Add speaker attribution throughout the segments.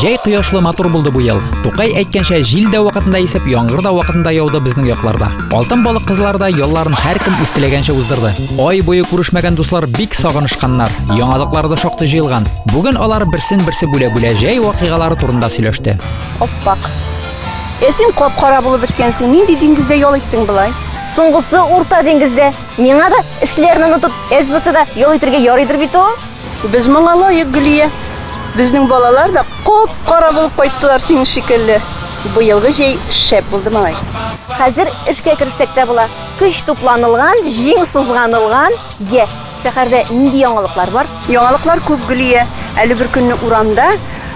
Speaker 1: Җәй кояшлы матур булды бу ел. Тукай әйткәнчә, җил дә вакытында исеп, яңгыр да вакытында яуды безнең якларда. Алтын балык кызлар да ялларын һәркем үз теләгәнчә уздырды. Ай буе күрешмәгән дуслар бик сагынышканнар. Яңалыклар да шактый җыелган. Бүген алар берсен-берсе бүлә-бүлә җәй вакыйгалары турында сөйләште. Аппак.
Speaker 2: Ә син кап-кара булып беткәнсең. Нинди диңгездә ял иттең болай? Соңгысы Урта
Speaker 3: диңгездә. Миңа да эшләрне онытып, СБСда ял итәргә ярыйдыр бит ул. Без моңа лаек,
Speaker 2: Гөлия. Безнең балалар да коп-кара булып кайттылар синең шикелле. Быелгы җәй шәп булды, малай. Хәзер
Speaker 3: эшкә керешсәк тә була. Көч тупланылган, җиң сызганылган. Йә, шәһәрдә нинди яңалыклар бар? Яңалыклар күп, Гөлия.
Speaker 2: Әле бер көнне урамда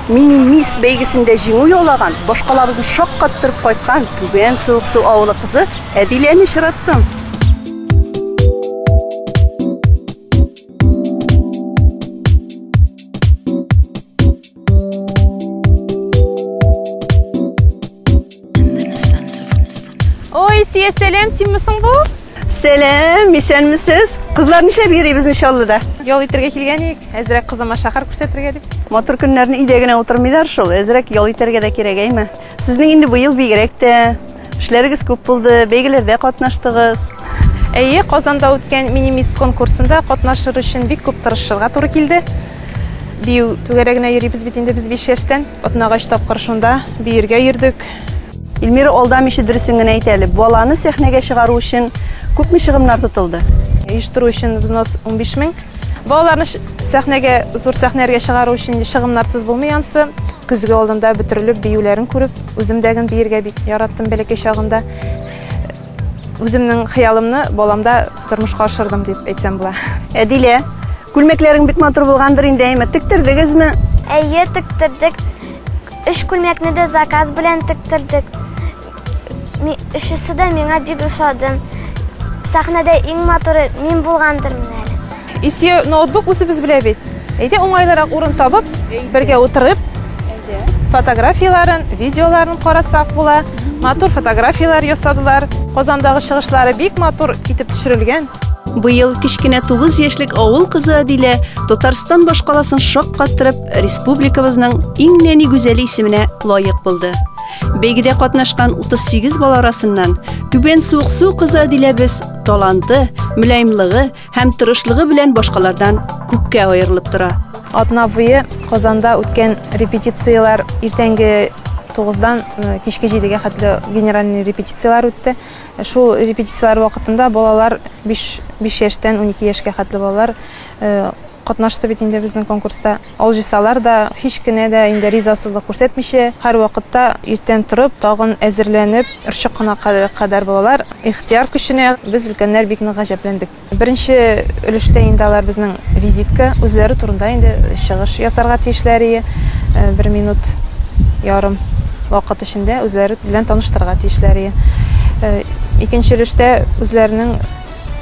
Speaker 2: мини-мисс бәйгесендә җиңү яулаган, башкалабызны шаккаттырып кайткан Түбән Суыксу авылы кызы Әдиләне очраттым.
Speaker 4: Ой, сия сәлем, син мисың бу? Сәлем,
Speaker 2: исәнмесез? Кызлар нишләп йөрибез Нишаллыда? Ял итәргә килгән
Speaker 4: идек, әзрәк кызыма шәһәр күрсәтергә дип. Матур көннәрне өйдә
Speaker 2: генә утырмыйлар шул, әзрәк ял итәргә дә кирәк, әйме? Сезнең инде быел бигрәк тә эшләрегез күп булды, бәйгеләрдә катнаштыгыз. Әйе,
Speaker 4: Казанда үткән минимист конкурсында катнашыр өчен бик күп тырышырга туры килде. Бию түгәрәгенә йөрибез бит инде без 5 яшьтән. Атнага 3 тапкыр шунда биергә йөрдек. Эльмира,
Speaker 2: алдамыйча дөресен генә әйт әле, баланы сәхнәгә чыгару өчен күпме чыгымнар тотылды? Оештыру өчен
Speaker 4: взнос 15 мең. Балаларны сәхнәгә, зур сәхнәләргә чыгару өчен чыгымнарсыз булмый ансы. Көзге алдында бөтерелеп, биюләрен күреп, үзем дә гын биергә бик яраттым бәләкәй чагында. Үземнең хыялымны баламда тормышка ашырдым дип әйтсәм була. Әдилә,
Speaker 2: күлмәкләрең бик матур булгандыр инде, әйме? Тектердегезме? Әйе,
Speaker 5: тектердек. Өч күлмәкне дә заказ белән тектердек. Өчесе дә миңа бик ошады. Сәхнәдә иң матуры мин булгандыр менә әле. Исе ноутбук
Speaker 4: үзебез белә бит. Әйдә уңайлырак урын табып, бергә утырып, фотографияләрен, видеоларын карасак була. Матур фотографияләр ясадылар. Казандагы чыгышлары бик матур итеп төшерелгән. Быел кечкенә
Speaker 2: 9 яшьлек авыл кызы Адилә Татарстан башкаласын шаккаттырып, республикабызның иң нәни гүзәле исеменә лаек булды. Бәйгедә катнашкан 38 бала арасыннан Түбән Суыксу кызы Адиләбез таланты, мөлаемлыгы һәм тырышлыгы белән башкалардан күпкә аерылып тора. Атна буе
Speaker 4: Казанда үткән репетицияләр иртәнге 9-дан э, кичке 7-гә хәтле генеральный репетицияләр үтте. Э, шул репетицияләр вакытында балалар 5, 5 яшьтән 12 яшькә хәтле балалар э, катнашты бит инде безнең конкурста. Алҗысалар да, һич кенә дә инде ризасызлык күрсәтмичә, һәрвакытта иртән торып, тагын әзерләнеп, орчык кына кадәр булалар. Ихтыяр көченә без, өлкәннәр, бик нык гаҗәпләндек. Беренче өлештә инде алар безнең визитка, үзләре турында инде чыгыш ясарга тиешләр ие. Бер минут ярым вакыт эчендә үзләре белән таныштырырга тиешләр ие. Икенче өлештә үзләренең.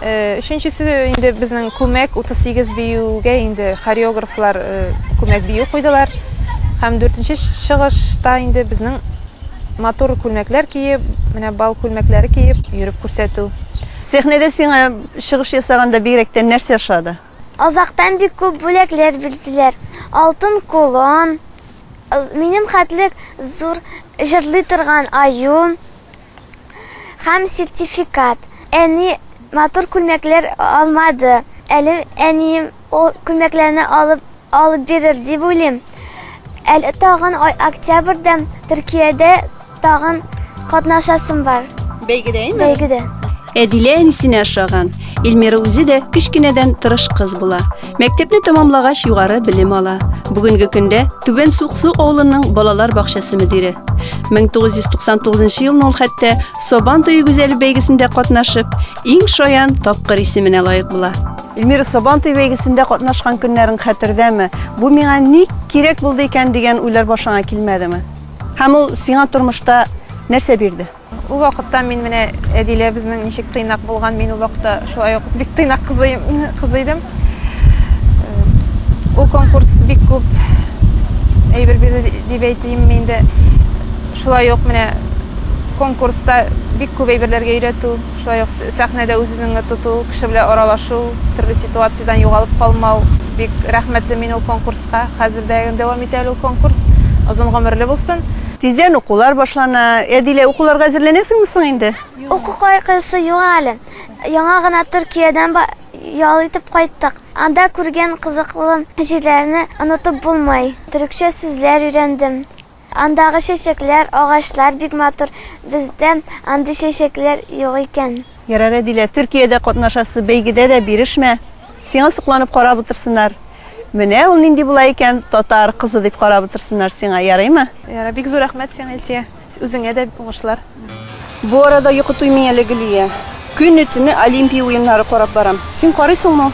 Speaker 6: Өченчесе
Speaker 4: инде безнең күмәк 38 биюгә инде хореографлар күмәк бию куйдылар. Һәм дүртенче чыгышта инде безнең матур күлмәкләр киеп, менә бал күлмәкләре киеп йөреп күрсәтү. Сәхнәдә сиңа
Speaker 2: чыгыш ясаганда бигрәк тә нәрсә ошады?
Speaker 5: Азактан бик күп бүләкләр бирделәр. Алтын колон, минем хәтлек зур җырлый торган аю. һәм сертификат. Әни матур күлмәкләр алмады әле, әнием ул күлмәкләрне алып алып бирер дип уйлыйм. Әле тагын октябрьдә Төркиядә тагын катнашасым бар. Бәйгедә инде? Бәйгедә. Әдилә
Speaker 2: әнисенә ошаган. Эльмира үзе дә кечкенәдән тырыш кыз була. Мәктәпне тәмамлагач югары белем ала. Бүгенге көндә Түбән Суксу авылының балалар бакчасы мөдире. 1999 елны ул хәтта Сабан туе гүзәле бәйгесендә катнашып, иң шаян тапкыр исеменә лаек була. Эльмира Сабан туе бәйгесендә катнашкан көннәрең хәтердәме? Бу миңа ник кирәк булды икән дигән уйлар башыңа килмәдеме? Һәм ул сиңа тормышта нәрсә бирде? Ул вакытта мин
Speaker 4: менә Әдилә безнең ничек тыйнак булган, мин ул вакытта шулай ук бик тыйнак кызы, кызы идем. Ул конкурс бик күп әйбер бирде дип әйтим инде. Шулай ук менә конкурста бик күп әйберләргә өйрәтү, шулай ук сәхнәдә үз-үзеңне тоту, кеше белән аралашу, төрле ситуациядән югалып калмау. Бик рәхмәтле мин ул конкурс Кыска, хәзер дә дәвам итә әле ул конкурс. Озын гомерле булсын. Тиздән укулар
Speaker 2: башлана. Әдилә, укуларга әзерләнәсеңме соң инде? Уку кайгысы
Speaker 5: юк әле. Яңа гына Төркиядән ял итеп кайттык. Анда күргән кызыклы җирләрне онытып булмый. Төрекчә сүзләр өйрәндем. Андагы чәчәкләр, агачлар бик матур, бездә андый чәчәкләр юк икән. Ярар, Әдилә,
Speaker 2: Төркиядә катнашасы бәйгедә дә бирешмә, сиңа сокланып карап утырсыннар. Менә ул нинди була икән, татар кызы дип карап утырсыннар сиңа, ярыймы? Ярар, бик зур рәхмәт
Speaker 4: сиңа, Илсөя. Үзеңә дә уңышлар. Бу арада
Speaker 2: йокы туймый әле Гөлия. Көне-төне Олимпия уеннары карап барам. Син карыйсыңмы?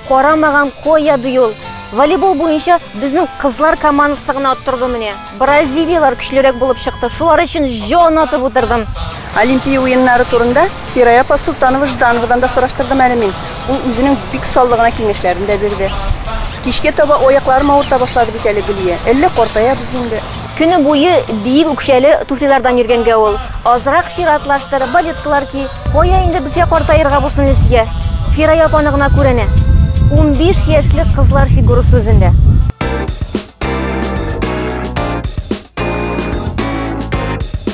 Speaker 2: Карамаган
Speaker 3: коя ди ул. Волейбол буенча безнең кызлар командасы гына оттырды менә. Бразилиялар көчлерәк булып чыкты. Шулар өчен җан атып утырдым. Олимпия уеннары
Speaker 2: турында Фирая апа Солтанова Ждановадан да сораштырдым әле мин. Ул үзенең бик саллы гына киңәшләрен дә бирде. Кичкә таба аякларым авырта башлады бит әле Гөлия. Әллә картаябыз инде? Көне буе
Speaker 3: биек үкчәле туфлилардан йөргәнгә ул. Азрак чиратлаштыр, балеткалар ки, кая инде безгә картаерга бу сеңлесегә. Фирая апаны гына күр әнә. Унбиш яшьлек кызлар фигурасы үзендә.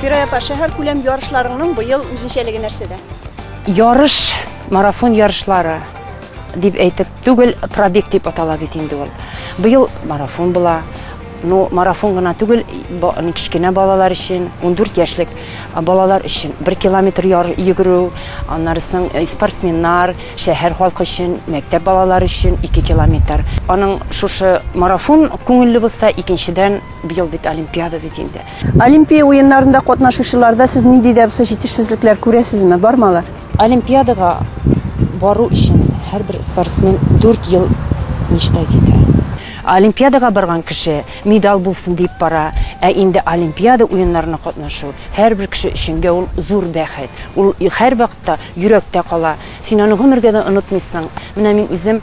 Speaker 2: Фирая апа, шәһәркүләм ярышларыңның быел үзенчәлеге нәрсәдә? Ярыш,
Speaker 7: марафон ярышлары дип әйтеп түгел, пробег дип атала бит инде ул. Быел марафон була. Ну, марафон гына түгел, кечкенә балалар өчен, 14 яшьлек балалар өчен 1 километр яр йөгерү, аннарысын э, спортсменнар, шәһәр халкы өчен, мәктәп балалары өчен 2 километр. Аның шушы марафон күңелле булса, икенчедән быел бит олимпиада бит инде. Олимпия уеннарында
Speaker 2: катнашучыларда сез нинди дә булса җитешсезлекләр күрәсезме? Бармы алар? Олимпиадага
Speaker 7: бару өчен һәрбер спортсмен дүрт ел мечтать итә. Олимпиадага барган кеше медаль булсын дип бара, ә инде Олимпиада уеннарына катнашу һәрбер кеше өченгә ул зур бәхет. Ул һәрвакытта йөрәктә кала. Син аны гомергә дә онытмыйсың. Менә мин үзем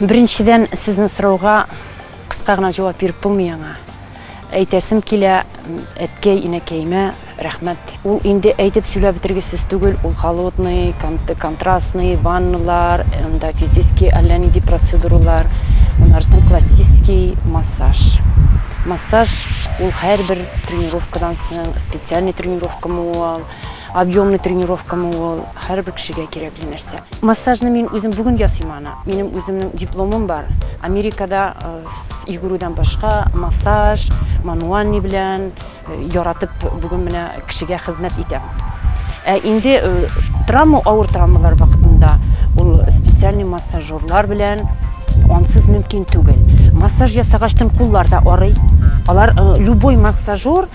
Speaker 2: Беренчедән, сезнең
Speaker 7: сорауга кыска гына җавап биреп булмый аңа. Әйтәсем килә, әткәй, инәкәемә рәхмәт. Ул инде әйтеп сөйләп бетергесез түгел, ул холодный, контрастный, ванналар, анда физический әллә нинди процедуралар, аннарысын классический массаж. Массаж, ул һәрбер тренировкадан соң, специальный тренировкамы ул, Объемный тренировкамы ул, һәрбер кешегә кирәкле нәрсә. Массажны мин үзем бүген ясыйм аны. Минем үземнең дипломым бар. Америкада йөгерүдән башка массаж, мануальный белән яратып бүген менә кешегә хезмәт итәм. Ә инде травма, авыр травмалар вакытында ул специальный массажерлар белән ансыз мөмкин түгел. Массаж ясагачтын куллар да арый. Алар любой массажер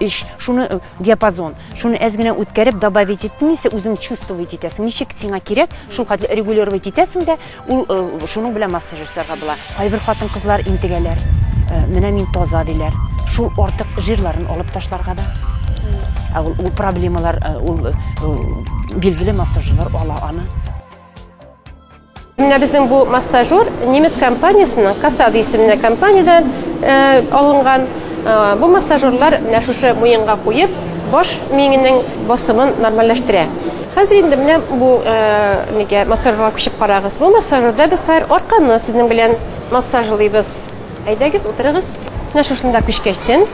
Speaker 7: Иш, шуны э, диапазон, шуны әз генә үткәреп добавить иттең исә үзең чувствовать итәсең. Ничек сиңа кирәк, шул хәтле регулировать итәсең дә, ул э, шуның белән массаж ясарга була. Кайбер хатын-кызлар интегәләр. Э, менә мин таза диләр. Шул артык жирларын алып ташларга да. Ә ул, ул проблемалар, ул, ул билгеле массажерлар ала аны.
Speaker 8: Менә безнең бу массажер немец компаниясенең Касад исемле компаниядән э, алынган. Э, бу массажерлар менә шушы муенга куеп, баш миңенең басымын нормальләштерә. Хәзер инде менә бу э, нигә массажерга күчеп карагыз. Бу массажерда без хәзер арканы сезнең белән массажлыйбыз. Әйдәгез, утырыгыз. Менә шушында күчкәчтен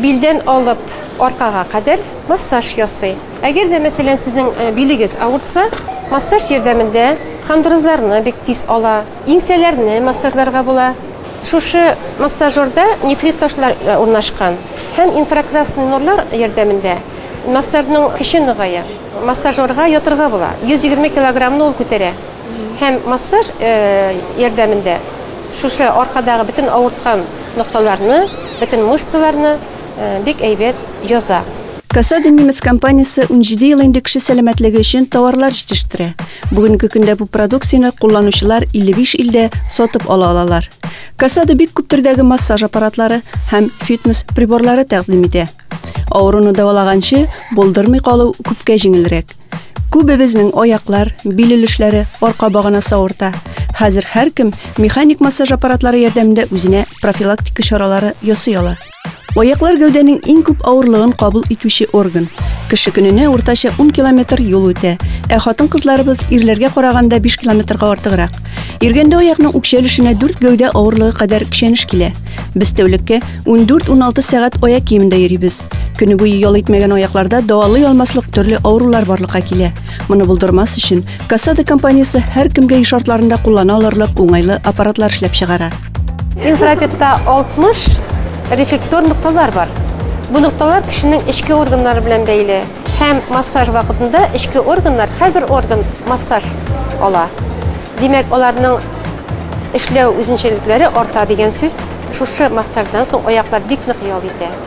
Speaker 8: билдән алып аркага кадәр массаж ясый. Әгәр дә, мәсәлән, сезнең билегез авыртса, массаж ярдәмендә хондрозларны бик тиз ала, иңсәләрне массажларга була. Шушы массажерда нефрит ташлар урнашкан һәм инфракрасный нурлар ярдәмендә массажның көче ныгая. Массажерга ятырга була, 120 килограммны ул күтәрә һәм массаж ярдәмендә шушы аркадагы бөтен авырткан нокталарны, бөтен мышцаларны, Бик әйбәт яза. Касада немец
Speaker 2: компаниясе унҗиде ел инде кеше сәламәтлеге өчен тауарлар җитештерә. Бүгенге көндә бу продукцияне кулланучылар 55 илдә сатып ала алалар. Касада бик күп төрдәге массаж аппаратлары һәм фитнес приборлары тәкъдим итә. Авыруны дәвалаганчы, булдырмый калу күпкә җиңелрәк. Күбебезнең аяклар, бил өлешләре, арка баганасы авырта. Хәзер һәркем механик массаж аппаратлары ярдәмендә үзенә профилактика чаралары ясый ала. Аяклар гәүдәнең иң күп авырлыгын кабул итүче орган. Кеше көненә уртача 10 километр юл үтә, ә хатын-кызларыбыз ирләргә караганда 5 километрга артыграк. Йөргәндә аякның үкчә өлешенә 4 гәүдә авырлыгы кадәр көчәнеш килә. Без тәүлеккә 14-16 сәгать аяк киемендә йөрибез. Көне буе ял итмәгән аякларда дәвалый алмаслык төрле авырулар барлыкка килә. Моны булдырмас өчен Касада компаниясе һәркемгә еш шартларында куллана алырлык уңайлы аппаратлар эшләп чыгара. Инфрапетта
Speaker 8: 60 рефлектор нокталар бар. Бу нокталар кешенең эчке органнары белән бәйле һәм массаж вакытында эчке органнар һәрбер орган массаж ала. Димәк, аларның эшләү үзенчәлекләре арта дигән сүз. Шушы массаждан соң аяклар бик нык ял итә.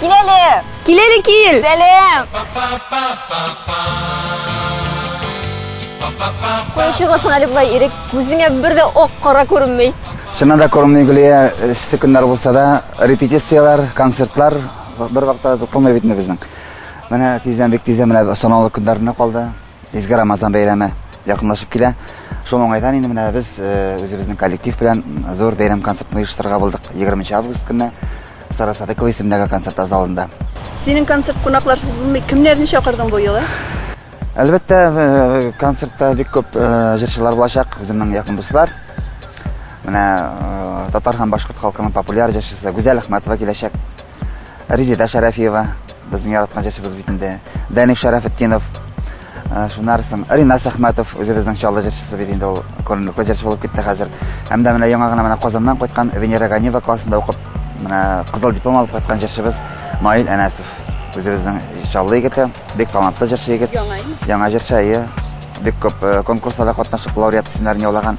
Speaker 3: Кил әле! Кил әле, кил!
Speaker 2: Сәлем!
Speaker 3: Кой чыгасың әле болай ирек, күзеңә бер дә ак кара күренмей. Шына да күренмей
Speaker 9: Гүлия, эссе көннәр булса да, репетицияләр, концертлар бер вакытта туктамый бит безнең. Менә тиздән бик тиздән менә санаулы көннәренә калды. Изге Рамазан бәйрәме якынлашып килә. Шул уңайдан инде менә без э, үзебезнең коллектив белән зур бәйрәм концертын оештырырга булдык. 20 август көнне Сара Садыкова исемендәге концерт залында. Синең концерт
Speaker 2: кунакларсыз булмый. Кемнәрне чакырдың бу юлы? Әлбәттә, э,
Speaker 9: концертта бик күп э, җырчылар булачак, үземнең якын дуслар. Менә татар һәм башкорт халкының популяр җырчысы Гүзәл Әхмәтова киләчәк. Резеда Шәрәфиева, безнең яраткан җырчыбыз бит инде. Даниф Шәрәфетдинов, э, шуннан соң Ринас Әхмәтов, үзебезнең Чаллы җырчысы бит инде ул, күренекле җырчы булып китте хәзер. Һәм дә менә яңа гына менә Казаннан кайткан Венера Ганиева классында укып, менә кызыл диплом алып кайткан җырчыбыз Наил Әнәсов. Үзебезнең Чаллы егете, бик талантлы җырчы егет. Яңа җырчы, әйе. Бик күп э, конкурсларда катнашып, лауреат исемнәрен яулаган.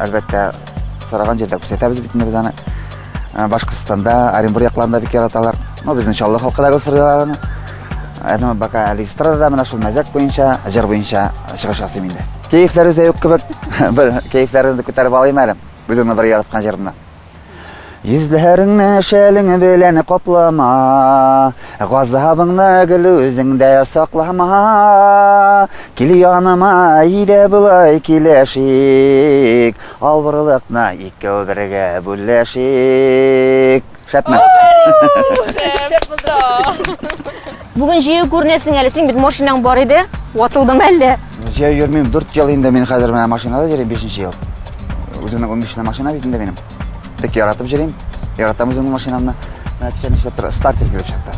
Speaker 9: Әлбәттә, сораган җирдә күрсәтәбез бит инде без аны. Ә, Башкортстанда, Оренбур якларында бик яраталар. Ну, безнең Чаллы халкы да гел сорыйлар аны. Ә, Әдәм бака әле эстрадада менә шул мәзәк буенча, җыр буенча чыгыш ясыйм инде. Кәефләрегез дә юк кебек. Бер кәефләрегезне күтәреп алыйм әле. Үземнең бер яраткан җырымны. Йөзләреңне шәлең белән каплама, Газабыңны гел үзеңдә саклама. Кил яныма, әйдә болай килешик, Авырлыкны икәү бергә бүлешик. Шәпме? Шәп булды.
Speaker 3: Бүген җәяү күренәсең әле, син бит машинаң бар иде, ватылдым әллә? Җәяү йөрмим, дүрт
Speaker 9: ел инде мин хәзер менә машинада йөрим, бишенче ел. Үземнең унбишенче машина бит инде минем. Бик яратып йөрим, яратам үземнең машинамны. Менә кичә нишләп тора, стартер килеп чыкты.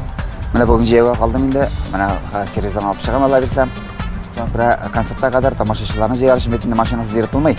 Speaker 9: Менә бүген җәяүгә калдым инде, менә сервиздан алып чыгам, алла бирсә. Соңгы концертка кадәр тамашачыларны җыяр өчен бит инде машинасыз йөреп булмый.